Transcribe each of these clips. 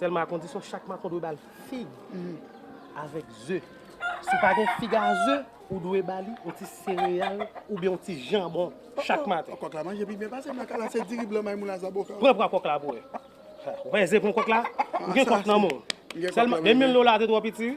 Sèlman a kondisyon chak maton dwe ba l fig avèk ze. Si w pa gen fig a ze, ou dwe ba li yon ti sereyal oubyen yon ti janbon chak maten. Kòk la manje pi byen pase m la kay la se diri blan maymoun a zaboka. Pran pwa kòk la pou w wè. Ou wè ze pran kòk la? Ou gen kòk nan men w. Sèlman 2000 dola te twò piti wi.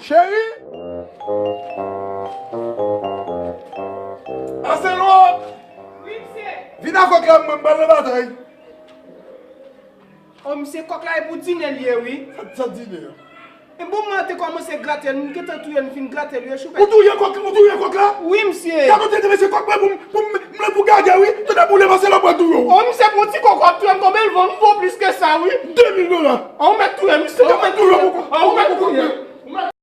Cheri! Aselwa! Wi, msye! Vin a kòk la mwen pral nan batay. O msye, kòk la e pou dine l ye wi. Sa dine a? E bon mwen te kòmanse grate l, m gentan touye l, m fin grate l wi e choufèt. Ou touye kòk la? Wi msye! Gad kote l te mete kòk mwen pou m. M vle pou gagè wi, yo ta boule Marcelo pran tou yo. Ohh misye pran ti kòkò ap touyem konbyen l vo m vo plis ke sa wi. 2000 dola. An ou mèt touyem misye. Ou mèt touyem.